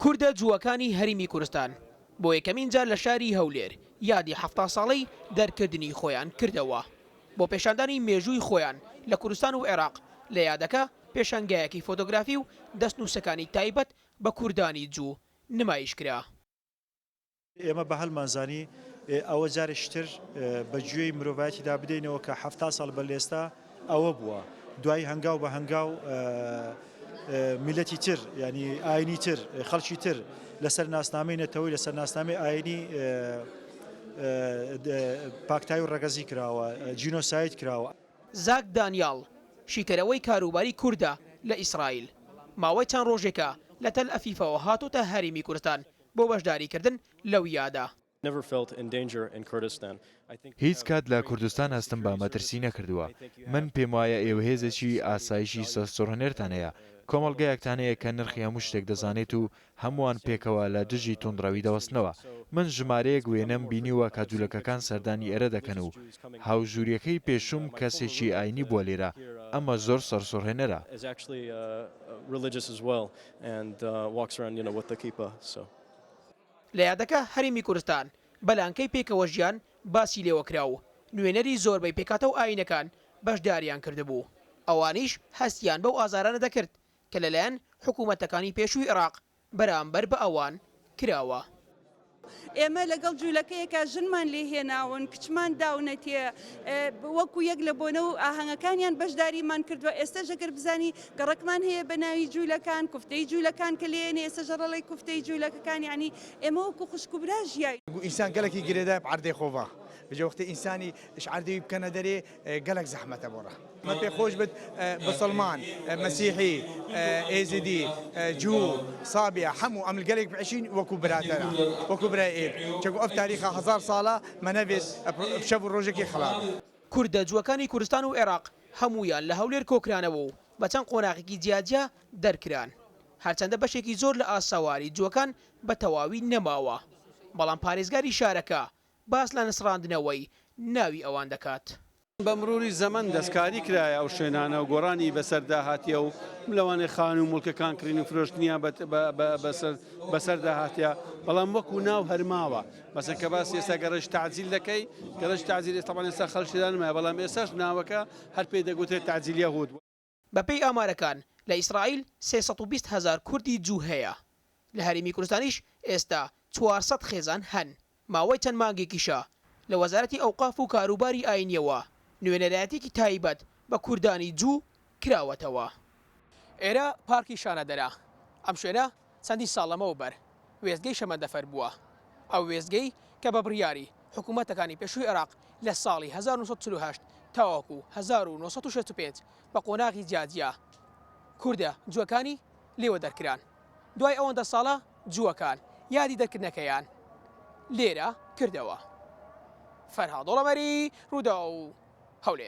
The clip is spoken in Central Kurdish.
کوردە جووەکانی هەریمی کورستان بۆ یەکەمین جار لە شاری هەولێر یادی حەفتا ساڵەی دەرکردنی خۆیان کردەوە بۆ پێشاندانی مێژووی خۆیان لە کوردستان و عێراق لە یادەکە پێشانگایەکی فۆتۆگرافی و دەستنووسەکانی تایبەت بە کوردانی جوو نمایشکرا. ئێمە بە هەلمان زانی ئەوە جارێکی تر بە گوێی مرۆڤایەتیدا بدەینەوە کە حەفتا ساڵ بە لێستا ئەوە بووە دوای هەنگاو بە هەنگاو میلەتی تر ینی ئاینی تر خەڵکی تر لەسەر ناسنامەی نەتەوەی لەسەر ناسنامەی ئاینی پاکتای و ڕەگەزی کراوە جینۆسایت کراوە. زاک دانیاڵ، شیکەرەوەی کاروباری کوردە لە ئیسرائیل، ماوەی چەند ڕۆژێکە لە تەلئەفیفەوە هاتۆتە هەرێمی کوردستان بۆ بەشداریکردن لە ویادا. هیچ کات لە کوردستان هەستم بە مەترسی نەکردووە. من پێم وایە ئێوە هێزێکی ئاسایشی سەرسوڕهنێرتان هەیە، کۆمەڵگایەکتان هەیە کە نرخی هەموو شتێک دەزانێت و هەمووان پێکەوە لە دژی توندڕەوی دەوەستنەوە. من ژمارەیەک وێنەم بینیوە کە جولەکەکان سەردانی ئێرە دەکەن و هاوژووریەکەی پێشووم کەسێکی ئاینی بووە لێرە، ئەمە زۆر سەرسوڕهێنەرە. لە یادەکە هەرێمی کورستان بە لانکەی پێکەوە ژیان باسی لێوە کرا و نوێنەری زۆربەی پێکهاتە و ئاینەکان بەشداریان کردبوو، ئەوانیش هەستیان بەو ئازارانە دەکرد کە لەلایەن حکوومەتەکانی پێشووی عێراق بەرامبەر بە ئەوان کراوە. ئێمە لەگەڵ جوولەکەیەکە ژنمان لێ هێناون، کچمان داونەتێ، وەکوو یەک لە بۆنە و ئاهەنگەکانیان بەشداریمان کردووە، ئێستەش ئەگەر بزانی گەڕەکمان هەیە بە ناوی جوولەکان، کوفتەی جوولەکان کە لێ یەنێ ئێستە ژەڕەڵەی کوفتەی جوولەکەکان، یەعنی ئێمە وەکوو خوشک و برا ژیاین. ئینسان گەلەکی گرێدایە بە عەردەی خۆڤاخ، بجە وەختێ ئینسانی ئش عەردەوی بکەنە دەرێ، گەلەک زەحمەتە بۆ ڕە. مە پێ خۆش بت بسڵمان مەسیحی ئێزیدی جوو سابیە حەموو ئەمل گەلێک بەشین وەکو براتەرە وەکو برای ئێت چەگو ئەف تاریخە هەزار ساڵە مە نەێس شەب و ڕۆژێکی خڵات. کوردە جووەکانی کورستان و ئێراق هەموویان لە هەولێر کۆکرانەوە و بە چەند قۆناغێکی جیاجیا دەرکران هەرچەندە بەشێکی زۆر لە ئاسەواری جووەکان بە تەواوی نەماوە بەڵام پارێزگاری شارەکە باس لە نسڕاندنەوەی ناوی ئەوان دەکات. بە مروری زەمەن دەستکاری کرایە ئەو شوێنانە و گۆڕانی بەسەردا هاتیە و لەوانەیە خانوو و موڵکەکان کڕین و فرۆشتنیان بەسەردا هاتیە بەڵام وەکو ناو هەر ماوە مەسەن کە باسی ئێستا گەڕەج تەعجیل دەکەی گەڕەج تەعجیل ئێستا بەڵێن ئێستا خەڵک تێدا نمایە بەڵام ئێستاش ناوەکە هەر پێی دەگوترێت تەعجیل یەهود بەپێی ئامارەکان لە ئیسرائیل سێ سەد و بیست هەزار کوردی جوو هەیە، لە هەرێمی کوردستانیش ئێستا چوار سەد خێزان هەن، ماوەی چەند مانگێکیشە لە وەزارەتی ئەوقاف و کاروباری ئاینییەوە نوێنەرایەتیەکی تایبەت بە کوردانی جوو کراوەتەوە. ئێرە پارکی شانەدەرە، ئەم شوێنە چەندین ساڵ لەمەو بەر وێستگەی شەمەندەفەر بووە، ئەو وێستگەی کە بە بڕیاری حکوومەتەکانی پێشووی عێراق لە ساڵی هەزار و نۆ سەد و چل و هەشت تاوەکو هەزار و نۆ سەد و شەست و پێنج بە قۆناغی جیاجیا کوردە جووەکانی لێوە دەرکران، دوای ئەوەندە ساڵە جووەکان یادی دەرکردنەکەیان لێرە کردەوە. فەرهاد دۆڵەمەری، رووداو، هەولێر.